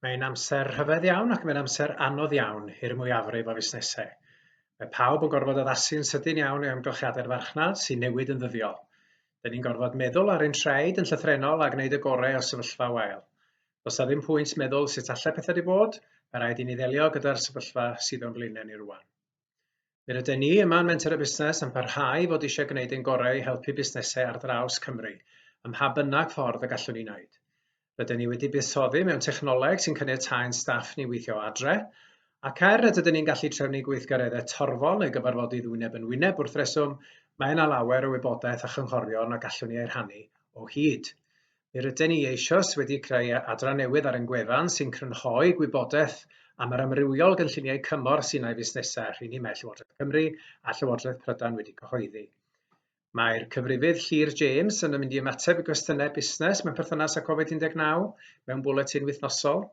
Mae'n amser rhyfedd iawn ac mae'n amser anodd iawn i'r mwyafrif o fusnesau. Mae pawb yn gorfod addasu yn sydyn iawn i amgylchiadau'r farchnad sy'n newid yn ddyddiol. Dyn ni'n gorfod meddwl ar ein traed yn llythrenol a gwneud y gorau o sefyllfa wael. Does na ddim pwynt meddwl sut allai pethau di bod, mae rhaid i ni ddelio gyda'r sefyllfa sydd o'n blaenau ni rwan. Fe ryden ni yma yn Menter y Busnes yn parhau i fod eisiau gwneud ein gorau i helpu busnesau ar draws Cymru, ym mha bynnag ffordd y gallwn ni wneud. Ryden ni wedi buddsoddi mewn technoleg sy'n caniatáu'n staff ni weithio o adre, ac er nad ydyn ni'n gallu trefnu gweithgareddau torfol neu gyfarfodydd wyneb yn wyneb wrth reswm, mae yna lawer o wybodaeth a chynghorion a gallwn ni eu rhannu o hyd. Mi ryden ni eisoes wedi creu adran newydd ar ein gwefan sy'n crynhoi gwybodaeth am yr amrywiol gynlluniau cymorth sy'n ei fusnesau, rheini mae Llywodraeth Cymru a Llywodraeth Prydain wedi cyhoeddi. Mae'r cyfrifydd Llŷr James yn mynd i ymateb i gwestiynau busnes mewn perthynas â Covid-19 mewn bwletin wythnosol.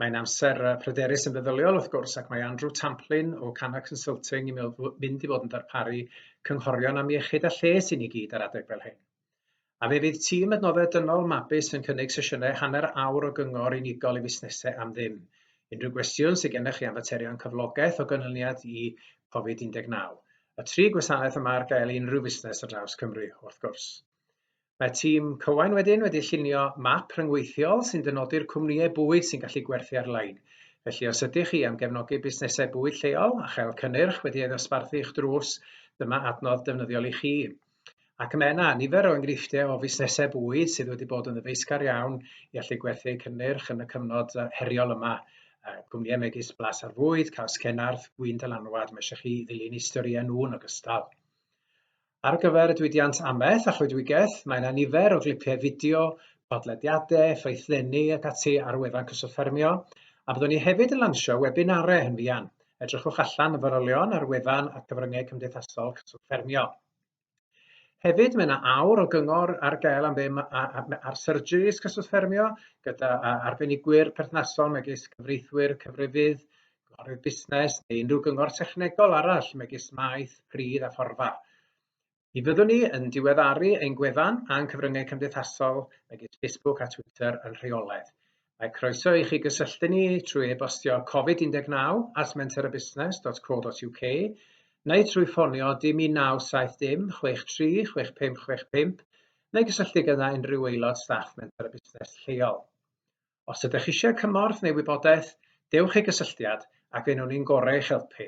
Mae'n amser pryderus yn feddyliol wrth gwrs ac mae Andrew Tamplin o Canna Consulting yn mynd i fod yn darparu cynghorion am iechyd a lles i ni gyd ar adeg fel hyn. A fe fydd tîm adnoddau dynol Mabus yn cynnig sesiynau hanner awr o gyngor unigol i fusnesau am ddim. Unrhyw gwestiwn sydd gennych chi am faterion cyflogaeth o ganlyniad i Covid-19. Y tri gwasanaeth yma ar gael i unrhyw fusnes ar draws Cymru, wrth gwrs. Mae tîm Cywain wedyn wedi llunio map rhyngweithiol sy'n dynodi'r cwmnïau bwyd sy'n gallu gwerthu ar-lein. Felly os ydych chi am gefnogi busnesau bwyd lleol a chael cynnyrch wedi ei ddosbarthu i'ch drws, dyma adnodd defnyddiol i chi. Ac mae yna nifer o enghreifftiau o fusnesau bwyd sydd wedi bod yn ddyfeisgar iawn i allu gwerthu eu cynnyrch yn y cyfnod heriol yma. Cwmnïau megis Blas ar Fwyd, Caws Cenarth, Gwin Dylanwad, mae eisiau chi ddilyn eu storïau nhw yn ogystal. Ar gyfer y diwydiant amaeth a choedwigaeth, mae yna nifer o glipiau fideo, podlediadau, ffraethleni ac ati ar wefan Cyswllt Ffermio, a byddwn ni hefyd yn lansio webinarau yn fuan, Edrychwch allan y fanylion ar wefan a'r cyfryngau cymdeithasol Cyswllt Ffermio. Hefyd, mae yna awr o gyngor ar gael am ddim ar surgeries Cyswllt Ffermio gyda arbenigwyr perthnasol megis cyfreithwyr, cyfrifydd, cynghorydd busnes neu unrhyw gyngor technegol arall megis maeth, pridd a phorfa. Mi fyddwn ni yn diweddaru ein gwefan a'n cyfryngau cymdeithasol megis Facebook a Twitter yn rheolaidd. Mae croeso i chi gysylltu ni trwy e-bostio covid19 at mentorabusnes.co.uk neu trwy ffonio dim 1970 dim 63 6565 neu gysylltu gyda unrhyw aelod staff Mentor a Busnes lleol. Os ydych eisiau cymorth neu wybodaeth, dewch i gysylltiad ac fe wnawn ni'n gorau eich helpu.